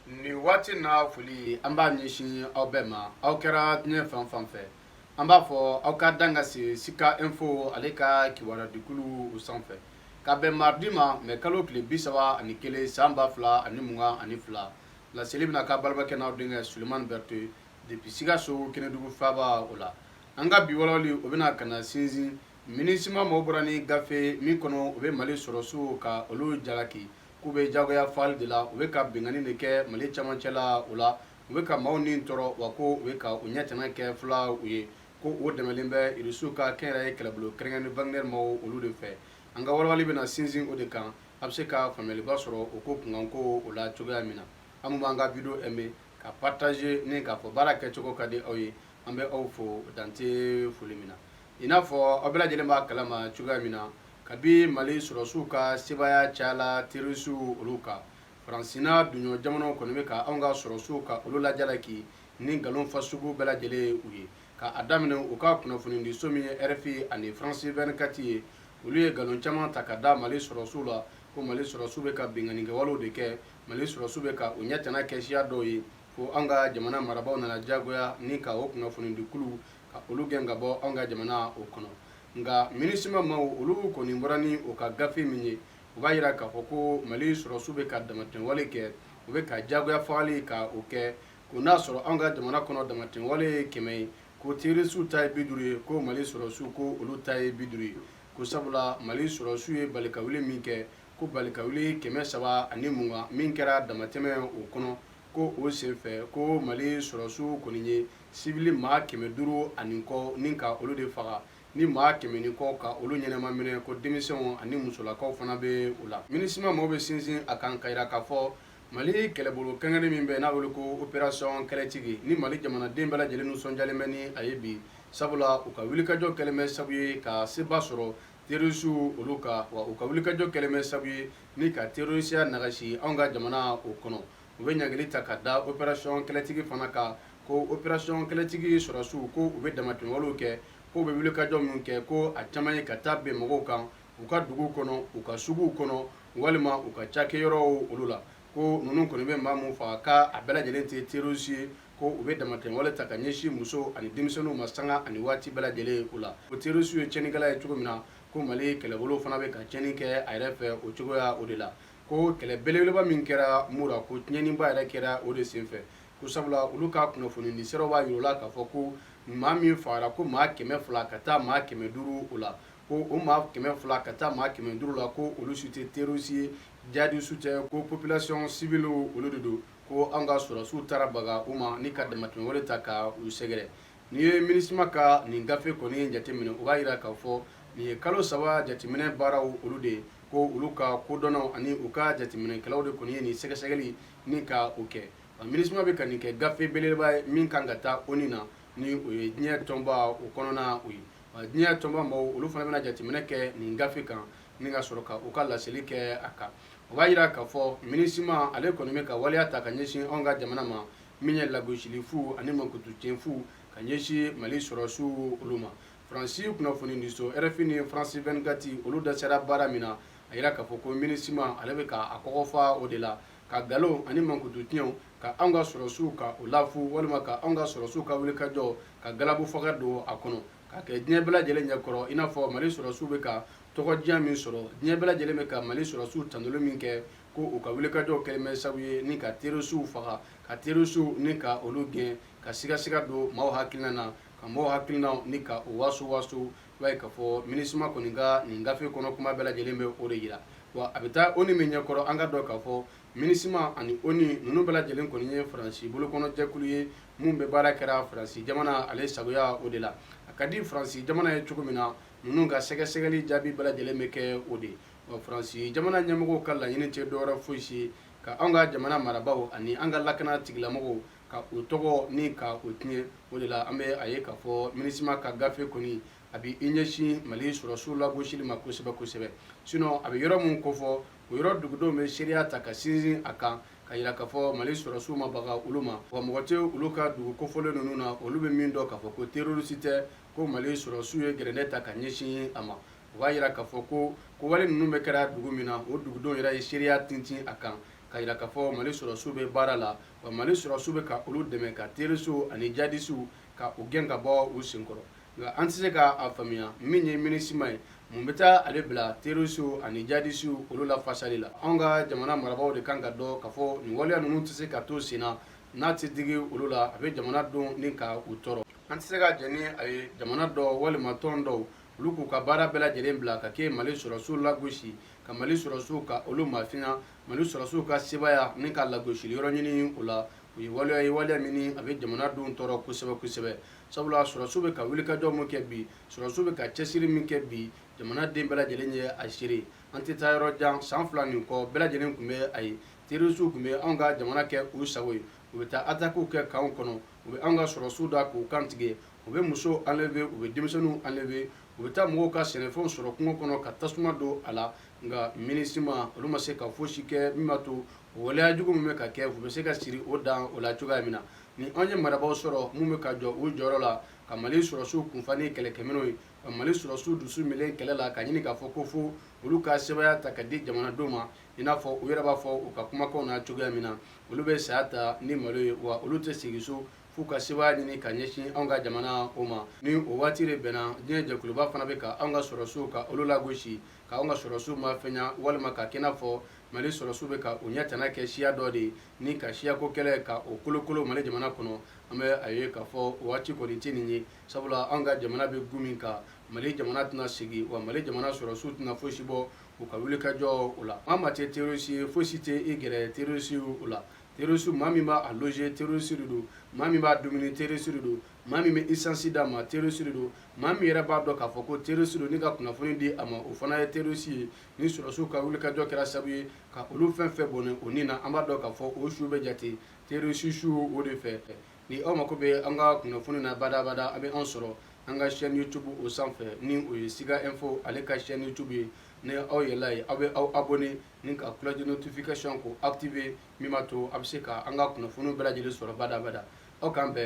nin waati na foli an b'a ɲɛsin aw bɛɛ ma aw kɛra diɲɛ fan fan fɛ an b'a fɔ aw ka dan ka se sika info ale ka kibaruya dikulu o sanfɛ ka bɛn maridi ma mɛ kalo tile bi saba ani kelen san ba fila ani mugan ani fila laseli bɛna k'a balimakɛ n'aw denkɛ sulemani berete depuis sikaso kɛnɛdugu faaba o la an ka bi walawali o bɛna ka na sinsin minisima mɔgɔw bɔra ni gafe min kɔnɔ u bɛ mali sɔrɔsiw ka olu jalaki K'u bɛ jagoya faali de la, u bɛ ka binkanni de kɛ Mali cɛmancɛ la o la, u bɛ ka maaw ni tɔɔrɔ wa ko u bɛ ka u ɲɛtana kɛ fulaw ye, ko o dɛmɛlen bɛ Irisiw ka kɛnyɛrɛye kɛlɛbolo kɛrɛnkɛrɛnnen Wagner maaw olu de fɛ. An ka walawali bɛna sinsin o de kan, a bɛ se ka faamuyaliba sɔrɔ o ko kunkanko o la cogoya min na. Aw minnu b'an ka wideyo aimer, ka partager ni k'a fɔ baara kɛcogo ka di aw ye, an bɛ aw fo dan tɛ foli min na. I n'a fɔ aw bɛɛ lajɛlen b'a kalama cogoya min na, kabi mali sɔrɔsiw ka sebaaya cayala terorisiw olu kan faransi n'a duɲɔ jamanaw kɔni bɛ ka anw ka sɔrɔsiw ka olu lajalaki ni nkalon fasugu bɛɛ lajɛlen ye u ye ka a daminɛ u ka kunnafonidiso min ye rfi ani faransi 24 ye olu ye nkalon caman ta ka da mali sɔrɔsiw la ko mali sɔrɔsiw bɛ ka binkannikɛwalew de kɛ mali sɔrɔsiw bɛ ka u ɲɛtana kɛ siya dɔw ye fo anw ka jamana marabaaw nana diyagoya ni ka o kunnafonidikuluw ka olu gɛn ka bɔ anw ka jamana o kɔnɔ nka minisima maaw olu kɔni bɔra ni o ka gafe min ye u b'a jira k'a fɔ ko mali sɔrɔsiw bɛ ka damatɛmɛwale kɛ u bɛ ka diyagoya fagali ka o kɛ ko n'a sɔrɔ anw ka jamana kɔnɔ damatɛmɛwale ye kɛmɛ ye ko terorisiw ta ye bi duuru ye ko mali sɔrɔsiw ko olu ta ye bi duuru ye ko sabula mali sɔrɔsiw ye balikawuli min kɛ ko balikawuli kɛmɛ saba ani mugan min kɛra damatɛmɛ o kɔnɔ ko o senfɛ ko mali sɔrɔsiw kɔni ye sibili maa kɛmɛ duuru ani kɔ ni ka olu de faga ni maa kɛmɛ ni kɔ ka olu ɲɛnama minɛ ko denmisɛnw ani musolakaw fana bɛ u la minisima maaw bɛ sinsin a kan k'a jira k'a fɔ mali kɛlɛbolo kɛrɛnkɛrɛnnen min bɛ n'a wele ko operasiyɔn kɛlɛtigi ni mali jamanaden bɛɛ lajɛlen nisɔndiyalen bɛ ni a ye bi sabula u ka wulikajɔ kɛlen bɛ sabu ye ka seba sɔrɔ Terorisiw olu kan wa u ka wulikajɔ kɛlen bɛ sabu ye ni ka terorisiya nagasi anw ka jamana o kɔnɔ u bɛ ɲangili ta ka da operasiyɔn kɛlɛtigi fana kan ko operasiyɔn kɛlɛtigi sɔrɔsiw ko u bɛ damatɛmɛwalew kɛ ko u bɛ wulikajɔ minnu kɛ ko a caman ye ka taa bin mɔgɔw kan u ka dugu kɔnɔ u ka suguw kɔnɔ walima u ka cakɛyɔrɔw olu la ko ninnu kɔni bɛ maa min faga k'a a bɛɛ lajɛlen tɛ terroriste ye, ko u bɛ damatɛmɛwale ta ka ɲɛsin musow ani denmisɛnninw ma sanga ani waati bɛɛ lajɛlen o la. Ko terroriste ye tiɲɛnikɛla ye cogo min na, ko Mali kɛlɛbolow fana bɛ ka tiɲɛni kɛ a yɛrɛ fɛ o cogoya o de la. Ko kɛlɛ belebeleba min kɛra Mura, ko tiɲɛniba yɛrɛ kɛra o de senfɛ. Ko sabula olu ka kunnafonidisiraw b'a jira u la k'a fɔ ko maa min fagara, ko maa kɛmɛ fila ka taa maa kɛmɛ duuru o la. ko o maa kɛmɛ fila ka taa maa kɛmɛ duuru la ko olu si tɛ terorisi ye jadisi tɛ ko population civile olu de don ko an ka sɔrɔsiw taara baga u ma ni ka damatɛmɛwale ta ka u sɛgɛrɛ n'i ye MINUSMA ka nin gafe kɔni jateminɛ o b'a jira k'a fɔ nin ye kalo saba jateminɛ baaraw olu de ye ko olu ka kodɔnnaw ani u ka jateminɛkɛlaw de kɔni ye nin sɛgɛsɛgɛli ni ka o kɛ MINUSMA bɛ ka nin kɛ gafe belebeleba ye min kan ka taa ONU na ni o ye diɲɛ tɔnba o kɔnɔna o ye Diɲɛ tɔnba maaw olu fana bɛna jateminɛ kɛ nin gafe kan ni ka sɔrɔ ka u ka laseli kɛ a kan o b'a jira k'a fɔ MINUSMA ale kɔni bɛ ka waleya ta ka ɲɛsin anw ka jamana ma min ye lagosili fu ani mankutu tiɲɛ fu ka ɲɛsin mali sɔrɔsiw olu ma faransi kunnafoni di so RFI ni France 24 olu dasera baara min na a jira k'a fɔ ko MINUSMA ale bɛ k'a kɔkɔfa o de la ka nkalon ani mankutu tiɲɛw ka anw ka sɔrɔsiw ka o lafu walima ka anw ka sɔrɔsiw ka wulikajɔ ka galabu faga don a kɔnɔ ka kɛ diɲɛ bɛɛ lajɛlen ɲɛkɔrɔ i n'a fɔ mali sɔrɔsiw bɛ ka tɔgɔdiya min sɔrɔ diɲɛ bɛɛ lajɛlen bɛ ka mali sɔrɔsiw tandoli min kɛ ko u ka wulikajɔ kɛlen bɛ sabu ye ni ka terorisiw faga ka terorisiw ni ka olu gɛn ka sigasiga don maaw hakilina na ka maaw hakilinaw ni ka o waso waso I b'a ye k'a fɔ MINUSMA kɔni ka nin gafe kɔnɔ kuma bɛɛ lajɛlen bɛ o de yira, wa a bɛ taa ONU min ɲɛ kɔrɔ an ka dɔn k'a fɔ MINUSMA ani ONU ninnu bɛɛ lajɛlen kɔni ye Faransi bolokɔnɔjɛkulu ye min bɛ baara kɛra Faransi jamana ale sagoya o de la, a ka di Faransi jamana ye cogo min na ninnu ka sɛgɛsɛgɛli jaabi bɛɛ lajɛlen bɛ kɛ o de, wa Faransi jamana ɲɛmɔgɔw ka laɲini tɛ dɔwɛrɛ foyi si ka anw ka jamana marabaaw ani an ka lakana tigilamɔgɔw ka o tɔgɔ ni ka o tiɲɛ o de la an bɛ a ye k'a fɔ MINUSMA ka gafe kɔni a bɛ i ɲɛsin mali sɔrɔsiw lagosili ma kosɛbɛ kosɛbɛ sinon a bɛ yɔrɔ min kofɔ o yɔrɔ dugudenw bɛ seereya ta ka sinsin a kan k'a yira k'a fɔ mali sɔrɔsiw ma baga olu ma wa mɔgɔ tɛ olu ka dugu kofɔlen ninnu na olu bɛ min dɔn k'a fɔ ko terorisi tɛ ko mali sɔrɔsiw ye gɛrɛntɛ ta ka ɲɛsin a ma o b'a yira k'a fɔ ko ko wale ninnu bɛ kɛra dugu min na o dugudenw yɛrɛ ye seereya tintin a kan k'a yira k'a fɔ mali sɔrɔsiw bɛ baara la wa mali sɔrɔsiw bɛ ka olu dɛmɛ ka terorisiw ani jadisiw ka u gɛn ka bɔ u senkɔrɔ nka an tɛ se ka a faamuya min ye MINUSMA ye mun bɛ taa ale bila terorisiw ani jadisiw olu lafasali la anw ka jamana marabaaw de kan ka dɔn k'a fɔ nin waleya ninnu tɛ se ka to sen na n'a tɛ digi olu la a bɛ jamana denw ni ka u tɔɔrɔ an tɛ se ka jɛn ni a ye jamana dɔw walima tɔn dɔw olu k'u ka baara bɛɛ lajɛlen bila ka kɛ mali sɔrɔsiw lagosi ka mali sɔrɔsiw ka olu mafiɲa Mali sɔrɔsiw ka sebaaya ni ka lagosili yɔrɔ ɲini o la, o ye waleya ye waleya min a bɛ jamana denw tɔɔrɔ kosɛbɛ kosɛbɛ, sabula sɔrɔsiw bɛ ka wulikajɔ min kɛ bi, sɔrɔsiw bɛ ka cɛsiri min kɛ bi, jamana den bɛɛ lajɛlen ye a seere. An tɛ taa yɔrɔ jan, san fila nin kɔ, bɛɛ lajɛlen tun bɛ a ye, terorisiw tun bɛ anw ka jamana kɛ u sago ye, u bɛ taa atakiw kɛ kanw kɔnɔ, u bɛ anw ka sɔrɔsiw da k'u kan tigɛ, u bɛ musow enlever u bɛ denmisɛnninw enlever, u bɛ taa mɔgɔw ka sɛnɛfɛnw sɔrɔ kungo kɔnɔ ka tasuma don a la nka MINUSMA olu ma se ka fosi kɛ min b'a to o waleya jugu min bɛ ka kɛ u bɛ se ka siri o dan o la cogoya min na ni anw ye marabaaw sɔrɔ minnu bɛ ka jɔ u jɔyɔrɔ la ka Mali sɔrɔsiw kunfa ni kɛlɛkɛminɛnw ye ka Mali sɔrɔsiw dusu minɛ kɛlɛ la ka ɲini k'a fɔ ko fo olu ka sebaaya ta ka di jamanadenw ma i n'a fɔ u yɛrɛ b'a fɔ u ka kumakanw na cogoya min na olu bɛ saya ta ni malo ye wa olu tɛ segin so f'u ka sebaaya ɲini ka ɲɛsin anw ka jamana o ma ni o waati de bɛnna diɲɛ jɛkuluba fana bɛ ka anw ka sɔrɔsiw ka olu lagosi ka anw ka sɔrɔsiw mafɛnya walima ka kɛ i n'a fɔ mali sɔrɔsiw bɛ ka u ɲɛ tana kɛ siya dɔ de ye ni ka siyako kɛlɛ ka o kolokolo mali jamana kɔnɔ an bɛ a ye k'a fɔ o waati kɔni tɛ nin ye sabula anw ka jamana bɛ gun min kan mali jamana tɛna segin wa mali jamana sɔrɔsiw tɛna fosi bɔ u ka wulikajɔ o la maa maa tɛ terroriste ye fosi tɛ i gɛrɛ terroristes o la terroristes maa min b'a loger terroriste de don maa min b'a dumuni terroriste de don maa min bɛ essence d'a ma terroriste de don maa min yɛrɛ b'a dɔn k'a fɔ ko terroriste don ni ka kunnafoni di a ma o fana ye terroriste ye ni sɔrɔsiw ka wulikajɔ kɛra sababu ye ka olu fɛn fɛn bɔnɛ o ni na an b'a dɔn k'a fɔ o su bɛ jate terroriste su o de fɛ ni aw mako bɛ an ka kunnafoni na badabada a bɛ an sɔrɔ an ka chaîne youtube o sanfɛ ni o ye siga info ale ka chaîne youtube ye ni aw yɛlɛla yen aw bɛ aw abonné ni ka cloche de notification ko activer min b'a to a bɛ se ka an ka kunnafoniw bɛɛ lajɛlen sɔrɔ badabada aw k'an bɛn